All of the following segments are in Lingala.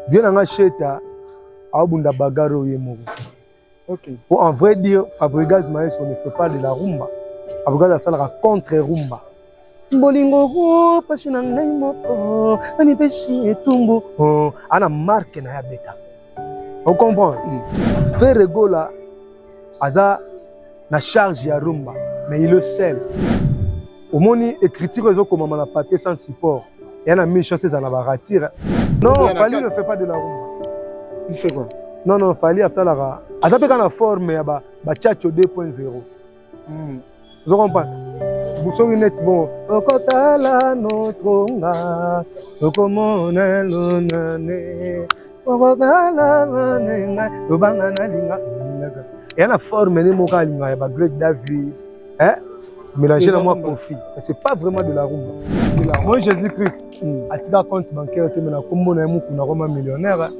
Vieux na nga Sheta abunda bagarre oye moko. Okay. Pour en vrai dire, Fabregas Maestro ne fait pas de la rumba. Fabregas asalaka contre rumba. bolingo oh, pasi na ngai moko amipesi etumbu oh, ana marke na ya beta ocomprendre mm. ferre gola aza na charge ya rumba mais il est seul omoni écriture ezo komama na papier sans support ya na mission c'est na ba ratire non Fally ne fait pas de la rumba il fait quoi non non Fally asalaka aza pe kana forme ya ba ba chacho 2.0 hmm. ozo comprendre soki neti bongo okotala notronga okomonelonane tobanga nalinga ya na forme ne moko alinga ya ba grec david eh? mélanger na mwa kofi mais c'est pas vraiment de la rumba moi jésus christ hmm. atika compte bancaire te me na kombo na ye mokuna koma millionnaire hein.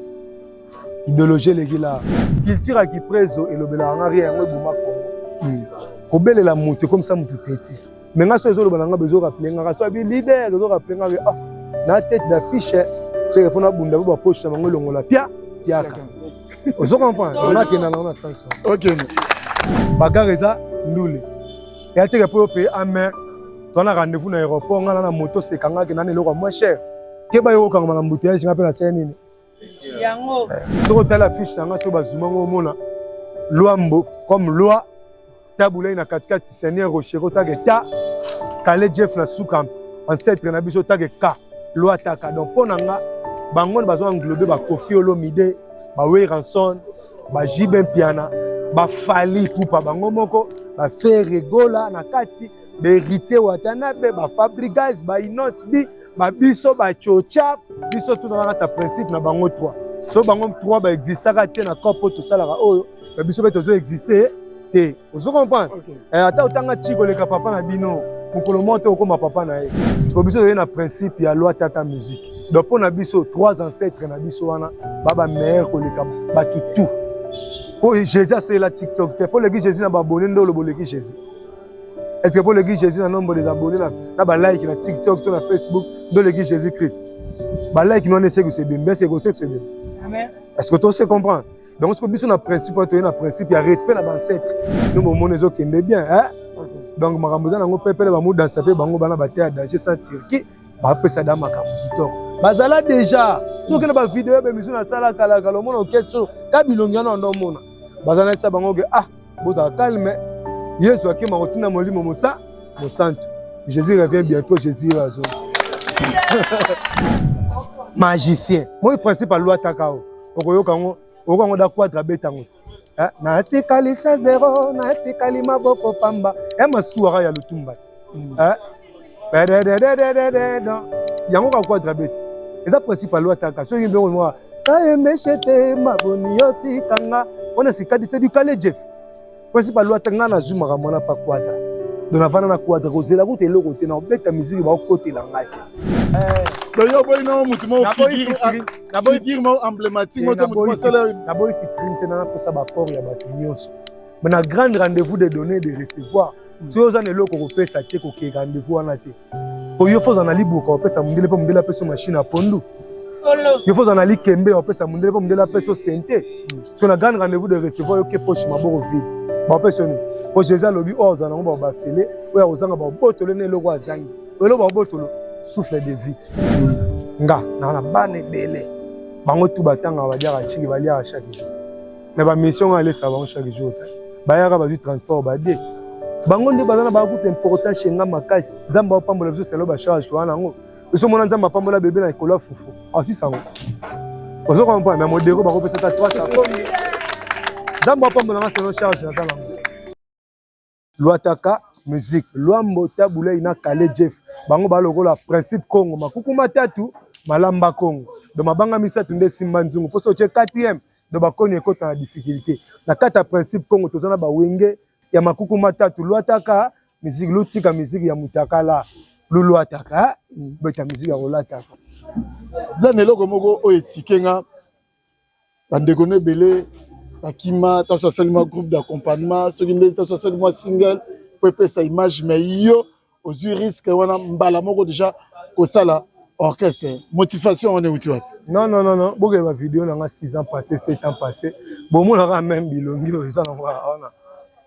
idéologie eleki la culture ya kiprezo elobelaka nga rien yango eboma kongo hmm. kobelela moto ekomisa moto teti mais nga so ezo loba na nga bezo rappeler nga so abi leader ezo rappeler nga ah na tête d'affiche c'est que pona bunda ba poche na bango longola pia piaka ozo comprendre on a que na na sens OK bagarre eza ndule ya teke po pe amer to na rendez-vous na aéroport nga na moto sekanga ke na eloko moins cher ke ba yo kanga na embouteillage nga pe na sene nini yango soki otali affiche na nga soki bazuma ngo omona lwambo comme loi tabulai na katikati seigneur rochero otage ta kale jeff na suka ancetre na biso otage ka loi taka donc mpo na nga bango bazo englobe bakofi olomide baweranson bajibe mpiana bafali pupa bango moko baferegola na kati baheritier watanabe bafabrigas bainosbi ba biso ba chocha biso tuna na ta principe na bango 3 so bango 3 ba existaka te na corps po tosalaka oyo ba biso pe tozo exister te ozo comprendre okay. eh, ata otanga chiko leka papa na bino mokolo moko te okoma papa na ye po biso toye na principe ya loi tata musique donc mpo na biso trois ancêtres na biso wana ba ba meilleur koleka bakitu mpo jésus asalela tiktok te mpo oleki jésus na babone nde oloba oleki jésus Est-ce que pour le Guy Jésus, un nombre des abonnés, là, là, bah, like, là, TikTok, tout, là, Facebook, dans le Guy Jésus-Christ. Bah, like, nous, on essaie que c'est bien, mais c'est que c'est bien. Amen. Est-ce que tu sais comprendre? Donc, ce que biso na principe, tu na principe, il y a respect na ancêtre. Nous, mon mon ezo kende bien, hein? Donc, ma ramboza na ngo pepele ba muda sape bango bana ba terre danger sans Turquie, ba pesa da makambo kitoko. Bazala déjà, soki na ba vidéo ba mission na sala kala kala, mona okeso, kabilongi na ndo mona. Bazana sa bango ke ah bozala calme yesu akima kotina molimo mosa mosantu jésus revient bientôt jésus oyo azo magicien moi principe alwataka o okoyoka yango okoyoka yango da quadre abeta yango ti eh, natikali sa zero natikali maboko pamba ya eh, masuwaka ya lutumba ti hmm. eh, yango kakuadra beti eza principal loi ataka soki mbongo mwa kayemeshete maboni yo tikanga wana sikadise du kale jeff principal loi atanga nazwi makambo wana pa kuadra do navanda na kuadra kozela kuta eloko te na kobeta miziki bakokotela ngai te donc yo oboyi nao motu moko figure moko emblématique moko motu mosala naboyi fitirin te nanakosa baport ya bato nyonso mais na grande rendez-vous de donner de recevoir hmm. soki oza na eloko okopesa te kokei rendez-vous wana te po yo foza na libuka opesa mondele mpo mondele apesa machine ya pondu yo foza na likembe opesa mondele mpo mondele apesa sente hmm. so na grande rendez-vous de recevoir yo ke poche maboko vide baopesa nini po jésus alobi oyo ozala yango baobakisele oyo akozanga babotolo na eloko azangi eloko babotolo souffle de vie nga naa na bana ebele bango tu batangaka baliaka ciki baliaka chaque jour na ba mission nga lesa bango chaque jour bayaka bazwi transport bade bango nde baza na bango kuta important chez nga makasi nzambe apambola biso selo ba charge towana yango biso mona nzambe apambola bebe na ekolo ya fufu asisa yango ozo comprendre mais modero bakopesa ata 300 nzambe apambola nga selo charge naza nango Luataka musique Luambo Tabulei na Kale Jeff bango ba lokola principe Congo makuku matatu malamba Congo do mabanga misato nde simba nzungu poso otie 4e do bakoni ekota na difficulté na kata principe Congo toza na bawenge ya makuku matatu Luataka musique lutika musique ya mutakala luluataka beta musique ya kolataka bla na eloko moko oyo etike nga bandeko na ebele bakima ntanso asali mwa groupe d'accompagnement soki nde ntanso asali mwa single mpo epesa image mais yo ozwi risque wana mbala moko deja kosala orchestre motivation wana euti wapi non non non non bokele ba video na nga 6 ans passé 7 ans passé bomonaka même bilongi oyo eza na nga wana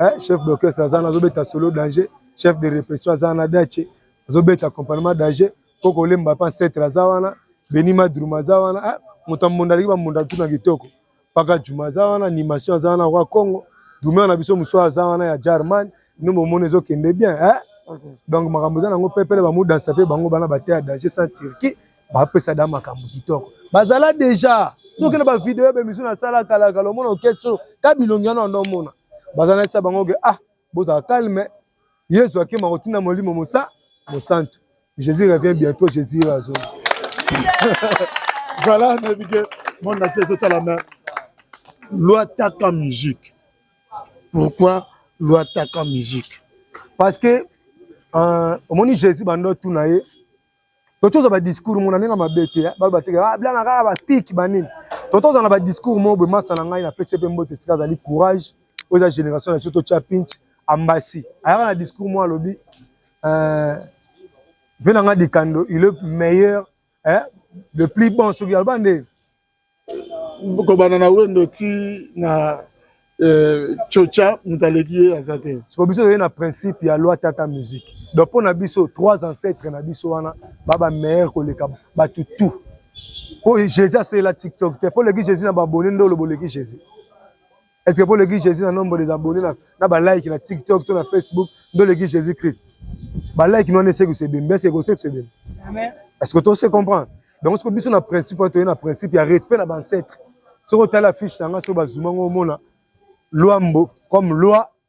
eh, chef d'orchestre aza na azobeta solo danger chef de repression aza na dace azobeta accompagnement danger koko olemba mpe ancetre aza wana beni madruma aza wana eh, moto ya mbunda aleki bambunda tuna kitoko paka juma aza wana animation aza wana kwa congo dumea na biso mosusu aza wana ya germane no bomoni ezokende bien eh? donc makambo eza nango pepele bamodansa mpe bango bana bateya danger sans turquie bapesa da makambo kitoko bazala deja soki na bavideo ya bemission nasala kalakala omona okeso ka bilongi wana wanda omona baza na esa bango ke ah bozala calme yesu akima kotinda molimo mosa mosantu jésus revient bientôt jésus azo voilà nabike monde entier ezotala me loi taka musique pourquoi loi taka musique parce que euh, omoni jésus bando tuna ye totoza ba discours mona ndenge mabe te eh. balo bateke ah, blana kaka ba pic ba nini totoza na ba discours mo boye masa na ngai na pese pe mbote sika azali courage oyo eza génération na biso totya pinch ambasi ayaka na discours mo alobi euh, mpe na ngai dikando il est meilleur eh, le plus bon soki aloba nde kobanda na wendo ti na euh, chocha moto aleki ye aza te siko biso toye na principe ya loi tata musique donc mpo na biso trois ancêtres na biso wana ba ba meilleur koleka bato tout mpo jésus asalela tiktok te mpo oleki jésus na babone nde oloba oleki jésus Est ce que pour le guide Jésus na nombre des abonnés na na ba like na TikTok to na Facebook ndo le guide Jésus Christ. Ba like no ne se que c'est bien, mais c'est que c'est bien. Amen. Est ce que tu sais comprendre? Donc ce que biso na principe to na principe ya respect na ba ancêtres. Soko tala fiche na nga so bazuma ngo mona Luambo comme loi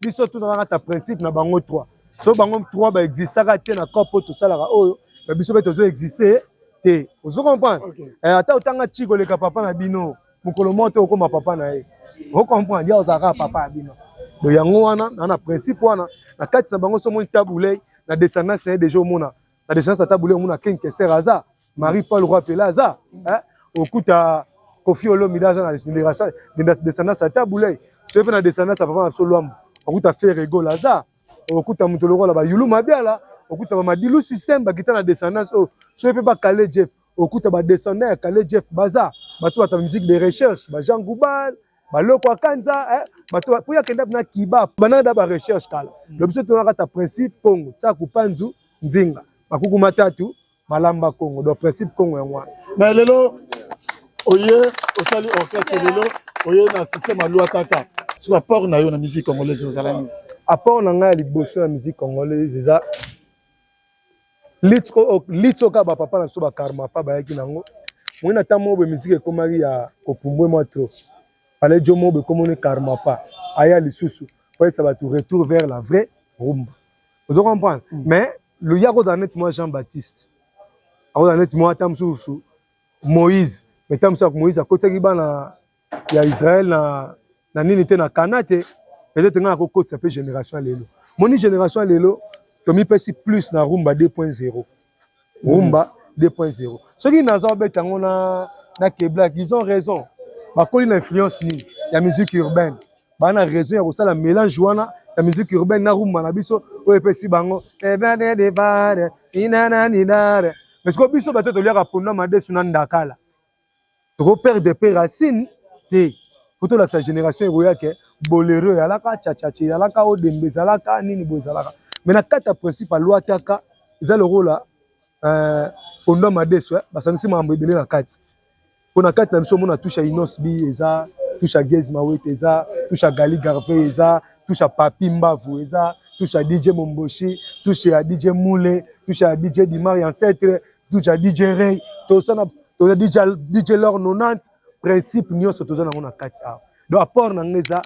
biso tunanaka ta principe na bango 3 so bango 3 baexistaka te na corps mpo tosalaka oyo na biso mpe tozo existe te ozo comprendre okay. eh, ata otanga ti koleka papa na bino mokolo moko te okoma papa na ye ocomprendre ya ozalaka papa ya bino do yango wana na na principe wana na kati na bango so omoni tabulei na descendance na ye deja omona na descendance ya tabulei omona ken keser aza Marie Paul Roi Pela aza hein okuta Kofi Olomide aza na génération de descendance ata boulay soki mpe na descendance ya papa na biso Luambo okuta Ferre Gola aza okuta moto lokola ba Yulu Mabiala okuta ba Madilu système ba kita na descendance oyo soki mpe ba Kale Jeff okuta ba descendant ya Kale Jeff baza bato bata musique de recherche ba Jean Goubal ba Loko Akanza hein bato mpo ya kenda na Kiba banana da ba recherche kala lobiso tonaka ta principe Pongo Tsaku Panzu Nzinga Makuku Matatu Malamba Congo, donc principe Congo yango wana. Mais lelo oye osali orchestre lelo oye na système ya loi tata. Soki apport na yo na musique congolaise ozala nini? Apport na ngai ya liboso na musique congolaise eza lutte oyo lutte oyo kaka bapapa na biso bakarma pa bayaki nango moi na ntango moko boye miziki ekomaki ya kopumbwe mwa trop pale jo moko boye ekomoni karma pa aya lisusu koyesa bato retour vers la vraie rumba ozo comprendre mm. mais loyi akozala neti mwa jean baptiste akozala neti mwa ata mosusu moïse me ntango mosusu moïse akotisaki bana ya israel na, na nini te na kana te peut-être ngai nakokotisa mpe génération ya lelo moni génération ya lelo tomipesi plus na rumba 2.0 rumba 2.0 soki naza obeta yango na, na keblak ils ont raison bakoli na influence nini ya musique urbaine baa na raison ya kosala mélange wana ya musique urbaine na rumba na biso oyo epesi bango mais sikoyo biso bato toliaka pona madesu na ndakala tokoperde pe racine te po tolakisa génération ekoya ke bolero eyalaka chachache eyalaka odembe ezalaka nini boye ezalaka mais na kati ya principe alwataka eza lokola Euh, Pondo Amadeso, eh, basangisi makambo ebele na kati. Mpo na kati na biso omona touche ya Inos B eza, touche ya Gez Mawete eza, touche ya Gali Garvey eza, touche ya Papi Mbavu eza, touche ya DJ Momboshi, touche ya DJ Mule, touche ya DJ Dimar ya Ancetre, touche ya DJ Ray, toza na toza DJ, DJ Lor 90, principe nyonso toza nango na kati awa. Donc apport na ngai eza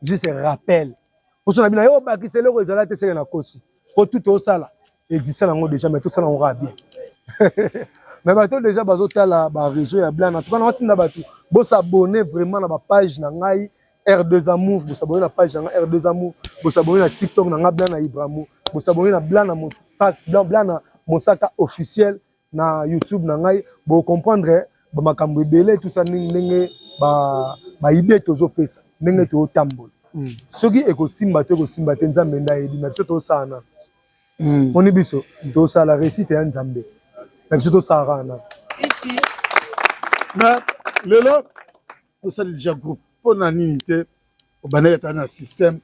juste rappel. Mposo na bino yo obakisa eloko ezala te seke na kosi. po tout tosala existe nango déjà mais tosala yango kaka bien mais bato déjà bazotala ba réseau ya blana tuka naotinda bato bosabone vraiment na bapage na ngai r2 amour bosabone na page na ngai r2 amour bosabone na tiktok na ngai blana ibramo bosabone na blana mosaka officiel na youtube na ngai bo comprendre ba makambo ebele tout ça ndenge ba ba idée tozopesa ndenge totambola mm. soki ekosimba to ekosimba te nzambe nde ayebi na biso tosala nano mm. moni biso tosala réussite ya nzambe na biso tosalaka nano lelo osali deja groupe mpo na nini te obandaki ata na système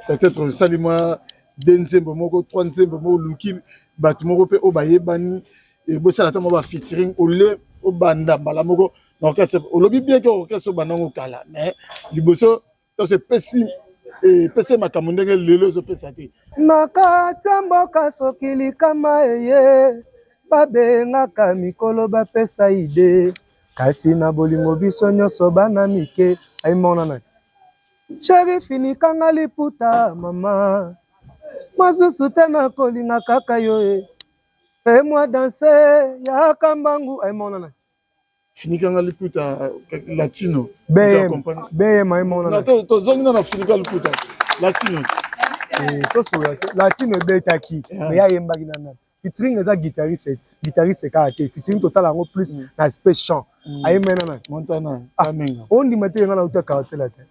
peut-être osali mwa de nzembo moko trois nzembo moko oluki bato moko mpe oyo bayebani bosala ata mwa ba featuring ole obanda mbala moko na orchestre olobi bien ke orchestre obanda yango kala mais liboso toso epesi epesi ye makambo ndenge lelo ezopesa te na kati ya mboka soki likama eye babengaka mikolo bapesa ide Kasi na bolingo biso nyonso bana mike ai monana cheri finikanga liputa mama masusu te nakolinga kaka yo e e mwa danse yaka mbangu ai monana finikanga liputa latino bm ai monana tozongi na na finika liputa latino eh, tosola te latino ebetaki eh. me ayembaki na nani featuring eza guitariste guitariste kaka te featuring totala yango plus mm. na aspect chant mm. aye mena na montana ah, kamenga ondima te nga nauta quartier la te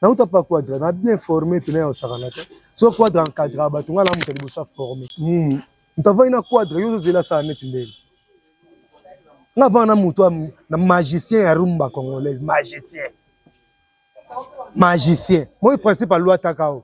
nauta pa quadra na bien formé pena ya osakana te so quadra encadra bato nga na moto liboso aformé mm. moto avandi na quadra yo ozozela sala neti ndenge nga avanda na moto na magicien ya rumba congolaise magicien magicien moi principe aluataka o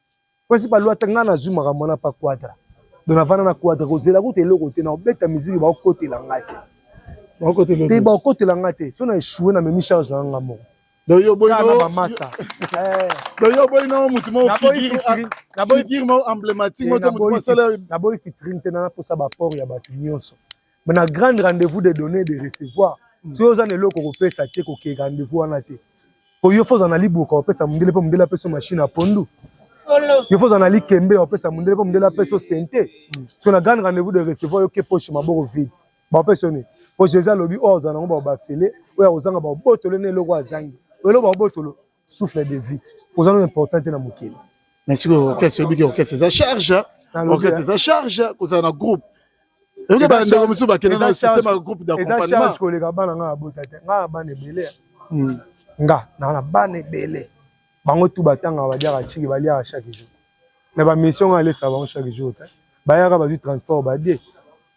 principal loi ngai nazwi makambo wana pa quadra donc navanda na quadra kozela kuta eloko te na kobeta miziki bakokotela ngai te mpe bakokotela ngai te so na echoue na memi charge na ngai moko donc yo boyi na bamasa eh. donc yo boyi na mutu moko figure moko emblématique moko te mutu mosala naboyi featuring te na naposa baport ya bato nyonso mais na grande rendez-vous de donner de recevoir mm. soki oza na eloko kopesa te kokei rendez-vous wana te po yo foza na liboka opesa mondele mpe mondele apeso machine ya pondu yo foza na likembe opesa mondele mpe mondele apeso sente mm. so na grande rendez-vous de recevoir yo ke poche maboko vide baopesa yo nini po jésus alobi oyo ozala nango baobakisele oyo akozanga baobotolo na eloko azangi eloko baobotolo souffle de vie oza no important te na mokili mais sikoyo orchestre oyebiki orchestre eza charge orchestre eza charge kozala na groupe Eza ba ndeko musu ba kende na système ya groupe d'accompagnement. Eza charge koleka bana nga abota te. Nga na bana ebele. Hmm. Nga na bana ebele. Bango tout batanga ba diaka chiki ba liaka chaque jour. Mais ba mission nga lesa bango chaque jour te. Bayaka bazui transport ba die.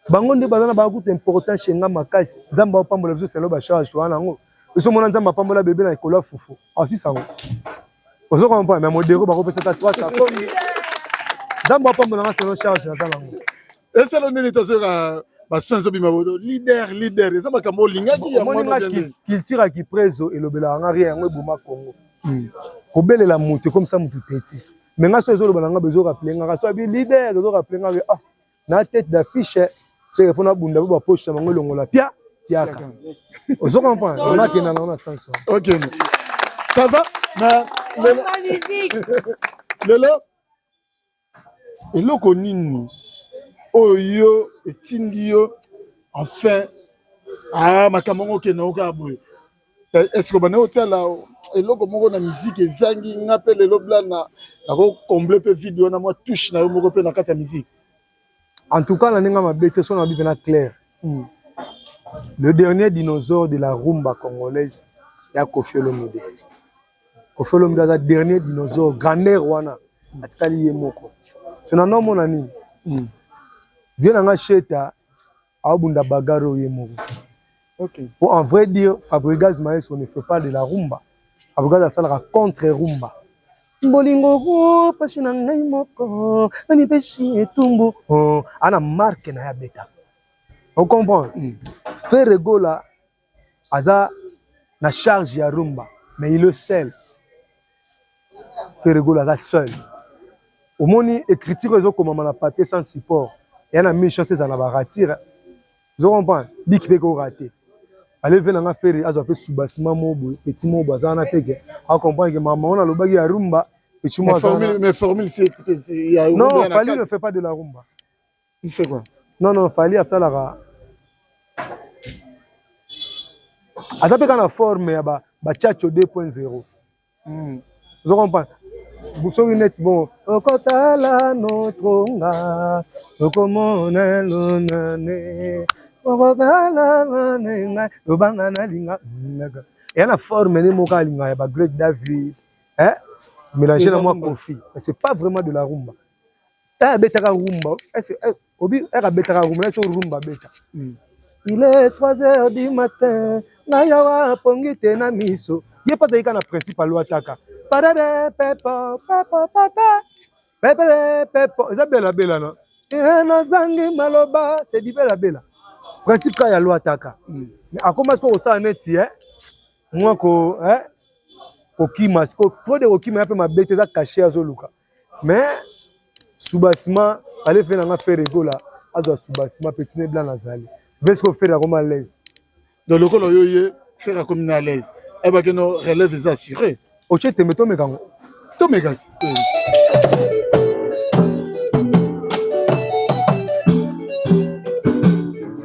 Bango nde bazana ba kuta important chez nga makasi. Nzamba opambola biso selo ba charge to wana ngo. Biso mona nzamba pambola bebe na ekolo fufu. Ah si sango. Ozo comprendre mais modero bakopesa ta 300 komi. Nzamba opambola nga selo charge na zala ngo. eselo nini tozoyoka bason ezobima boto leader leader eza makambo olingaki culture ya kiprezo elobelaka nga rien yango eboma congo hmm. kobelela moto ekomisa moto teti me nga so ezoloba na nga bezoraple ngaka so abi leader ezoraple nga ah na tete d'affiche seke mpo nabunda bo bapoche na bango elongola pia piaka ozo comprendre onakenda nango na sense ok ça va mais lelo Eloko nini oyo etindi yo enfin ah makambo yango okende yango kaka boye eske obanda otala eloko moko na miziki ezangi nga mpe lelo blana nako comble mpe vide wana mwa touche na yo moko mpe na kati ya miziki en tout cas na ndenge mabe te sona mabi mpena claire hmm. le dernier dinosaure de la rumba congolaise ya kofi olomide Koffi Olomide aza dernier dinosaure grandeur wana atikali ye moko so na nomona nini mm. vie na nga sheta aobunda bagaro ye moko okay. po en vrai dire fabrigaz maestro ne fait pas de la rumba fabrigaz asalaka contre rumba bolingo oh, pasi na ngai moko namipesi etumbu oh, ana marke na ye abeta ocomprendre mm. feregola aza na charge ya rumba mais il est seul ferregolo aza seul omoni écriture oyo ezokomama na papier sans support eya na mille chance ezala na baratire ozo comprendre biki mpe korate aleve na nga fere azwa mpe subasima mo boye petit mo boye aza wana mpe ke acomprendre ke mama wana alobaki ya rumba petit mo aza non fali ne fait pas de la rumba Il fait quoi Non non, Fally asalaka aza mpe kaka na forme ya bachacho 2.0 hmm. ozo comprendre soki neti bongo okotala notronga okomona lonane okotala nanenga lobanga nalinga naga eya na forme ne moko alinga ya bagreg david eh? mélange na mwa kofi mais c'est pas vraiment de la rumba eh, abetaka rumba eh, obi eka eh, abetaka rumba nasi rumba abeta hmm. il est 3 heures du matin na yawa pongi te na miso ye mpe azalika na principe alwataka parere pepo pepo pepe pepele pepo eza belabela na eh, nazangi maloba c'est du belabela principe kaka ya lwataka hmm. akoma sikoyo kosala neti eh? mwa ko eh? kokima sikoyo trop de kokima ya mpe mabe te eza kashe azoluka mais soubassement fallait faire nanga faire egola azwa soubassement petit ne blanc azali vesi ko faire akoma à l'aise donc lokola yo ye faire akomi na à l'aise ayebaki eh no relève eza assuré otie tembe tomeka yango tomeka si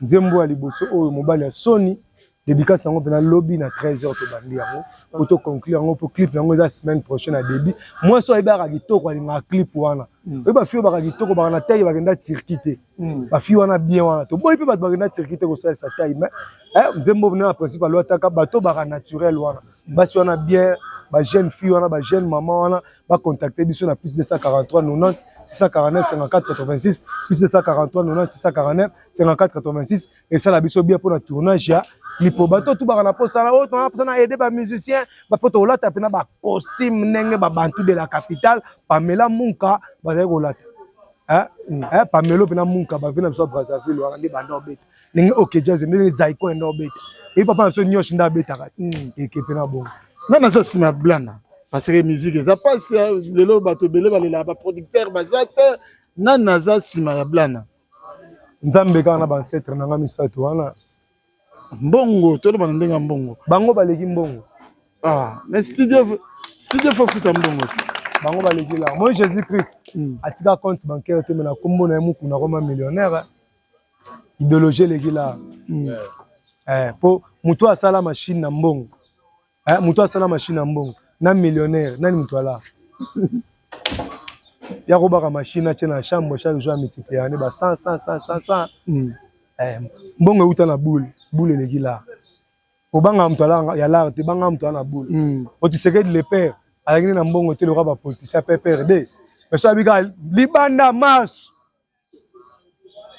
Nzembo ya liboso oyo mobali ya soni dédicace yango mpena lobi na 13 heures tobandi yango po to conclure yango mpo clip yango eza semaine prochaine ya début mwasi oyo ayebaka kitoko alingaka clip wana mm. oyo bafi oyo baka kitoko baka na taille bakenda turki te mm. bafi wana bien wana toboyi mpe bato bakenda turki te kosalisa taille mais eh, nzembo na principe alwataka bato baka naturel wana basi wana bien bajeune fille wana bajeune mama wana ba contacter biso na plus 243 90 649 54 86 plus 243 90 649 54 86 esala biso bien pour le tournage ya lipoba to tubaka na posa na oyo tona posa na aider ba musiciens ba poto olata pe na ba costume ndenge ba bantu de la capitale Pamela Munka bazali kolata eh eh Pamelo pe na Munka ba vina biso Brazzaville wana nde banda obeta ndenge ok jazz ndenge zaiko enda obeta eyi papa na biso niosh nde abetaka ti hmm. ekepe na bongo nga naza nsima ya blana parce que musique eza mpasi lelo bato ebele balelaka baproducteur baza te nga naza nsima ya blana nzambe kaka na bancetre na nga misato wana mbongo tolobana ndenge ya mbongo bango baleki mbongo ah, mais studio studio fofuta mbongo te bango baleki la moi jésus christ hmm. atika compte bancaire te me na nkombo na ye mokuna koma millionnaire ideologie eleki la hmm. eh, po moto asala machine na mbongo eh, moto asala machine na mbongo na millionnaire nani moto ala ya kobaka machine atie na chambre chaque jour amitiplier ne ba 100 100 100 100 hmm. eh, mbongo euta na boule boule eleki la obanga moto ala ya lar te banga moto ala na boule hmm. otisekedi le père alaki nde na mbongo te loka bapolitisien pprd mais so abika libanda marche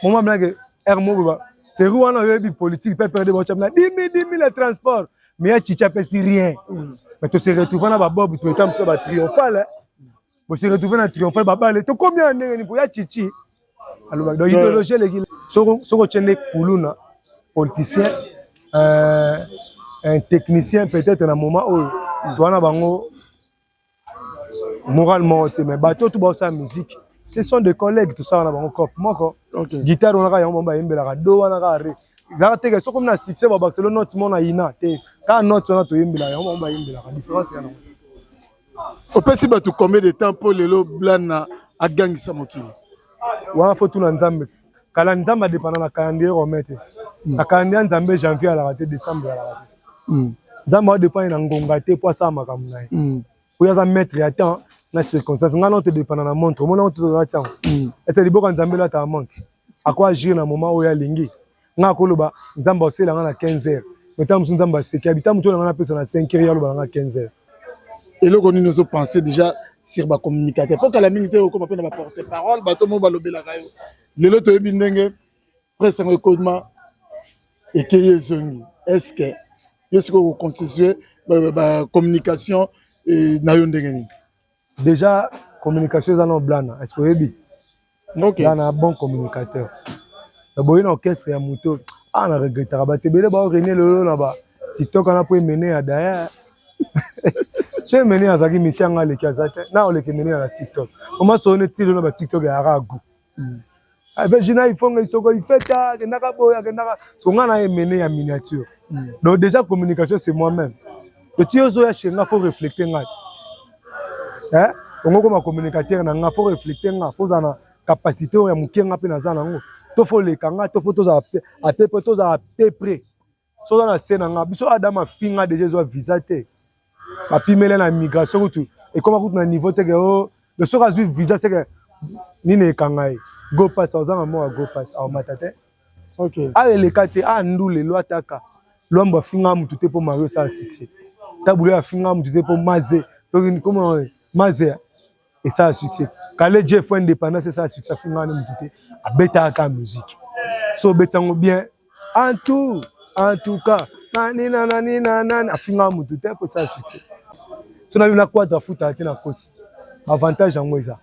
moma blanke r moboba serie wana oyebi politique mpe perde baotyami na dimi dimi le transport mais ya chicha apesi rien mm. mais tose retrouve na babob toeta mosusu ba triomphale bose retrouve na triomphale babale tokomi ya ndenge ni mpo ya chichi alobaki donc idéologie eleki soki otye nde kuluna politicien euh, un technicien peut-être na moment oyo towana bango moral moko te mais bato oyo tu baosala musique ce sont des collègues tosala na bango cope moko guitare wana kaka yango bango bayembelaka do wana kaka re ezalaka teke soki omi na succès babakiselo note mona yina te kaka note wana toyembela yango bango bayembelaka différence yango opesi bato combien de temps mpo lelo blana agangisa mokili wana fo tuna nzambe kala nzambe adepana na calendrier romain te hmm. na calendrier ya nzambe janvier alaka te décembre alaka te hmm. nzambe adepane na ngonga te mpo asala makambo na ye hmm. oyo aza maître ya temps na circonstance ngai nao todepana na montre omona ngo tozala ntiango ese liboka nzambe elataka montre ako agir na moment oyo alingi ngai akoloba nzambe aosela ngai na 15 heures me ntango mosusu nzambe aseki abita motu oyo na ngai napesa na 5 heures ye aloba na ngai 15 heures eloko nini ozo pense déjà sur ba communicateur mpo kala mingi te okoma mpe na ba porte parole bato moo balobelaka yo lelo toyebi ndenge presse yango ekoma ekeyi ezongi est ce que yo sikoyo koconstitue ba communication eh, na yo ndenge nini Deja communication eza na blana est-ce que oyebi okay. blana bon communicateur na boye na orchestre ya moto ah na regrettaka bato ebele bao renie lelo na ba tiktok wana mpo emene ya daya so emene azalaki misi yanga aleki aza te na oleki emene ya na tiktok omasoo ne ti lelo ba tiktok ya aragu hmm. avec Gina Ifonga isoko ifeta akendaka boye akendaka so nga na emene ya miniature hmm. donc déjà communication c'est moi même petit ozo ya chez nga faut refléter nga hein ongo koma communicateur na nga faut refléter nga faut zana capacité ya mukenga pe na zana ngo to faut leka nga to faut tozala à peu près tozala à peu près so oza na se na nga biso adam afinga deja ezwa visa te bapimele na migration kutu ekoma kutu na niveau teke o oh, de soki azwi visa seke nini ekanga ye go pass ozanga moka go pass aomata te okay. awa eleka te a ndule lwa ataka lwambo afinga mutu te mpo mario esala succès tabule afinga mutu te mpo maze toki koma maze esala succès kale je fo indépendance esala succès afinga na motu te abetaka kaka musique so obeti yango bien en tout en tout cas nanina nanina nani afinga motu te po esala succès so nabi na quadre afutaka te na kosi baavantage yango eza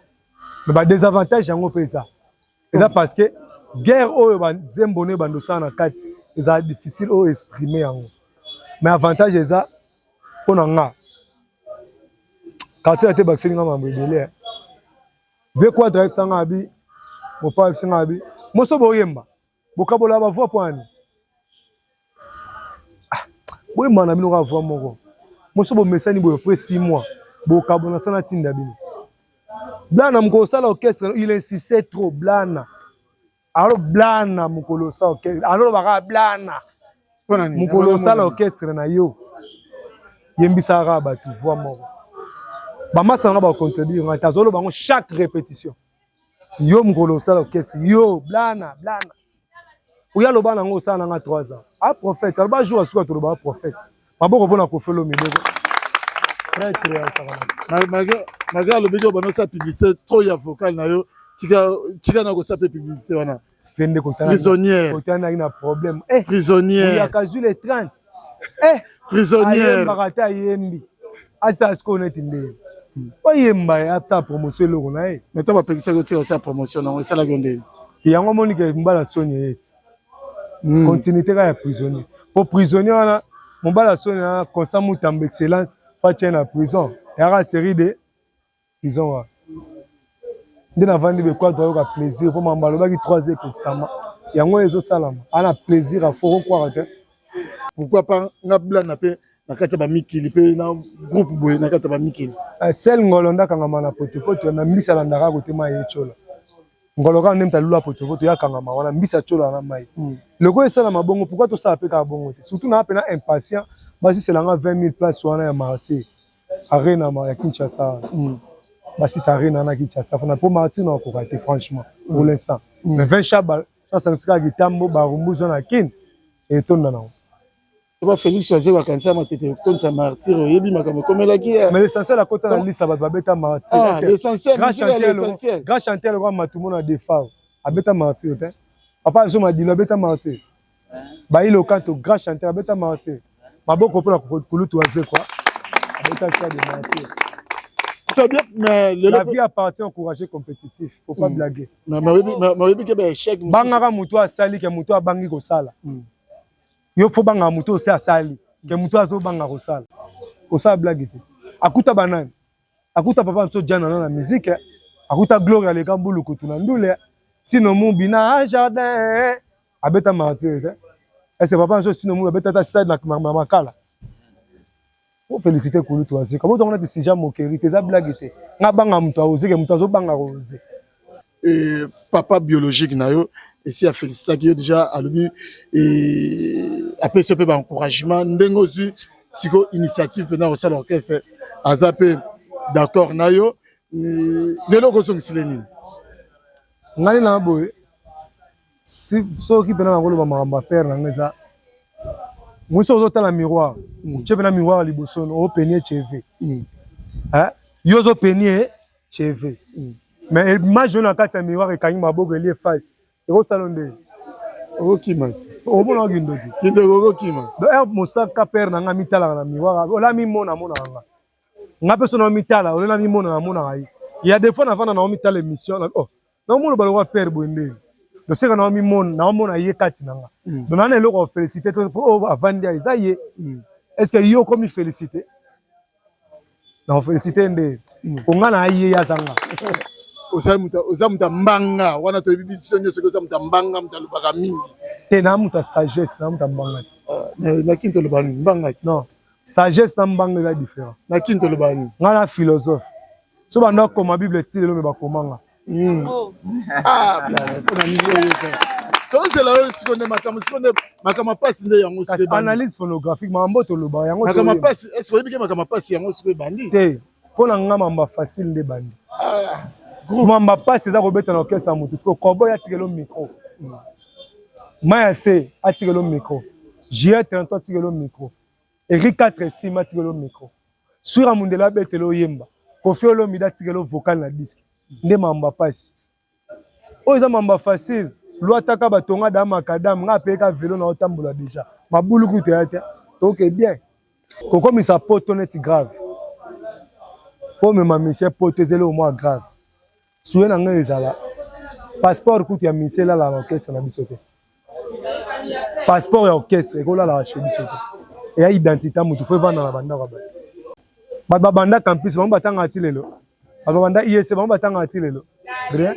me badesavantage yango mpe eza eza parce que guerre oyo banzembo no ebandosala na kati ezala difficile oyo exprime yango mais avantage eza mpo na nga quartier ate bakiseli nga mambo ebele eh. vie quadre ayebisa nga abi mopa ayebisa nga abi moso boyemba bokabola bavoi mpo ani ah, boyemba na bino kaka voi moko moso bomesani boye pre six mois bokabona sana ntinda bino blana mokosala orchestre il insiste trop blana alo blana mokolo osa orchestre aloloba kaka blana mokolo osala orchestre na yo yembisaka kaka bato voi moko bamasa nanga bacontredire ngai te azoloba yango chaque répétition yo mokolo osala orchestre yo blana blana oyo aloba nango osala nanga 3 ans a prophète aloba jour asuka tolobaka prophète maboko mpona kofi olomide pretre ya sakalaka malgré alobeki obanda osala publicité trop ya vocal na yo tika na kosala mpe publicité wana kende kotanaki na problème eh, prisonnièreyaka zwi le 30 eh, prisonnièreyembaka ata ayembi asala sikoyo neti ndenge oyemba ye asala promotion eloko na ye meta bapekisaki otika osala promotion nango esalaki yo ndenge yango omoni ke mbala soni eyeti mm. continuité kaka ya prisonnier mpo prisonnier wana mobala soni na constant mutambo excellence fatye na prison eyaka série de prison wana nde navandi bekwatu ayoka plaisir mpo mambo alobaki 3 ekokisama yango ezosalama ana plaisir afo okokwaka te pourquoi pas nga blana mpe na kati ya bamikili mpe na groupe boye na kati ya bamikili eh, sel ngolo ndakangama na potopoto na mbisa alandaka kotema ye cola ngolo kaka nde moto alula potopoto ya kangama wana mbisi atyola na mai mm. lokola esalama bongo pourkoi tosala mpe kaka bongo te surtout naa mpena impatient basisela nga 20 000 place wana ya martyr arena ya kinshasa wana mm. basisa arena na kinshasa fana mpo martyr na okoka te franchement mm. pour l'instant mais 20 chabal asangisi kaka kitambo barumbuza na kin etonda nango Eba Felix Waziri akanisa matete kotonisa martyr oyebi makambo ekomelaki ye. Mais l'essentiel akota na lisa bato babeta martyr. Ah, l'essentiel, l'essentiel. Grand chanteur lokola Matumo na Defao abeta martyr te. Papa Zoma Dilo abeta martyr. Bailo Kanto grand chanteur abeta martyr. Maboko mpo na kulutu wazekwa abeta sia de martyr. C'est bien, mais le la vie appartient au courageux compétitif. Faut pas mm. blaguer. Mais mais oui, mais oui, que ben échec. Bangaka mutu asali ke mutu abangi kosala. Mm. yo fo banga moto ose asali ke moto azobanga kosala kosala blage te akuta banani akuta papa nso jana na na mizike akuta gloria leka mbulukutu na ndule sino mubi na jardin abeta martire te ese papa nso sino mubi abeta ata stade na makala Faut féliciter Kulutu Aze. Comment on a dit si jamais moquerie, tes blagues te. Nga banga mutu aoze ke mutu azo banga rose. Et papa biologique na yo esi a féliciter ki yo déjà alobi et après ce peu ba encouragement ndenge ozui siko initiative pena au sala orchestre aza pe d'accord na yo lelo kozongisile nini ngai na boye soki mpena nakoloba makambo ya pere na ngai eza mwisi ozotala miroir mm. otye mpena miroir liboso no openie cheve mm. eh? yo ozopenie cheve mm. mais image oyo na kati ya miroir ekangi maboko elie face ekosala nde okokima omonaka kindoki kindoki okokima eh, mosaka pere na ngai mitalaka na miroir ola mimona amonaka ngai ngai mpe so na omitala olela mimona namonaka ye ya defo navanda na omitala émission oh. Donc mon baloka père Boyembeli. Donc c'est quand on mi mon na mon aye kati nanga. Hmm. Donc na eloko féliciter to oh avandi ya eza ye. Hmm. Est-ce que yo comme féliciter? Na féliciter nde. Hmm. Onga na aye ya zanga. oza moto ya mbanga wana toyebi biso nyonso oza moto ya mbanga moto alobaka mingi te na moto ya sagesse na moto ya mbanga te ah, nakini tolobaka mingi mbanga te non sagesse na mbanga eza différent na kin toloba nini nga na philosophe so bando akoma bible ti lelo me bakoma nga hmm. oh. ah, tozela oyo siko nde makambo siko nde makambo mpasi nde yango analyse phonographique makambo toloba yango makambo mpasi eske oyebi ke makambo mpasi yango siko ebandi te mpo na nga mamba facile nde ebandi ah, mamba mpasi eza kobeta na orkestre ya motu siko kobo yatikelo micro hmm. maya se atikelo micro jr 33 atikelo micro Eri 4 esima atikelo micro. Sura Mundela abetelo oyemba. Koffi Olomide atikelo vocal na disque. Nde mamba pasi. Oyo eza mamba facile. Luataka batonga da macadam nga apeka velo na otambola deja. Mabulu kutu ya te. Toke bien. Kokomisa poto neti grave. Po mema misie poto ezelo mwa grave. Souhait na nga ezala passeport kutu ya misie elala na orchestre na biso te. passeport ya orchestre ekolala chez biso te eya identité mutu fo evanda na bandako ya bato bato babanda campus bango batangaka ti lelo bato babanda iec bango batangaka ti lelo rien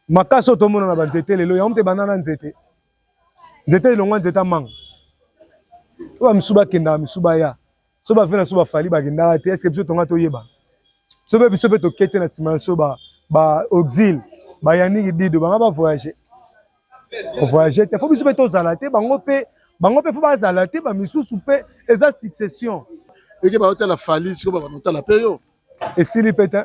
makasi oyo tomona na banzete lelo yango mpe ebanda na nzete nzete elongwa nzete amanga oyo bamisusu bakendaka misusu baya so ba vena so ba fali ba kendaka te est-ce que biso tonga toyeba so be biso pe tokete na sima so ba ba auxil ba yaniki dido banga ba voyager ko voyager te faut biso pe tozala te bango pe bango pe faut bazala te ba misusu pe eza succession eke ba hotela fali siko ba hotela pe yo esili pe te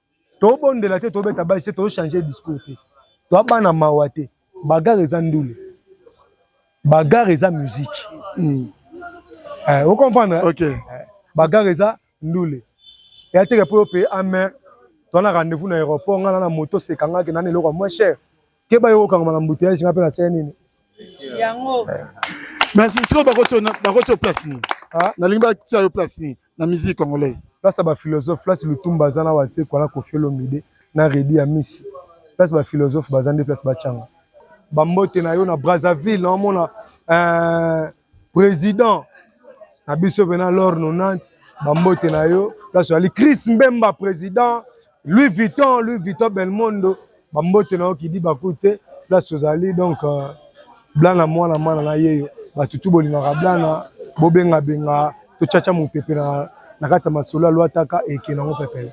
tobondela te tobeta basi te tochange discours te toa bana mawa te bagare eza ndule bagare eza musique mm. eh, ocomprendre okay. eh, bagare eza ndule ya teke mpo yo mpe amere toa na rendez-vous na aéroport ngai na na moto osekangaki nani eloko ya moins cher keba yo okangama na mbuteyage ngai mpe nasele nini yango eh. merci sikoyo bakotio place nini ah? nalingi batia yo place nini na musique congolaise place ya ba philosophe place lutumba aza na wazekwa na kofi olomide na redi ya misi place ba philosophe baza nde place bacanga bambote na yo na brazzaville naomona euh, président na biso pena lor 90 bambote na yo place oyali chris mbemba président Louis Vuitton, Louis Vuitton Belmondo, bambote na yo kidi bakute place ozali donc euh, blana mwana mwana na yeyo bato tu bolingaka blana bobengabenga tocaca mopepe na kati ya masolo ya lwataka eke nango pepele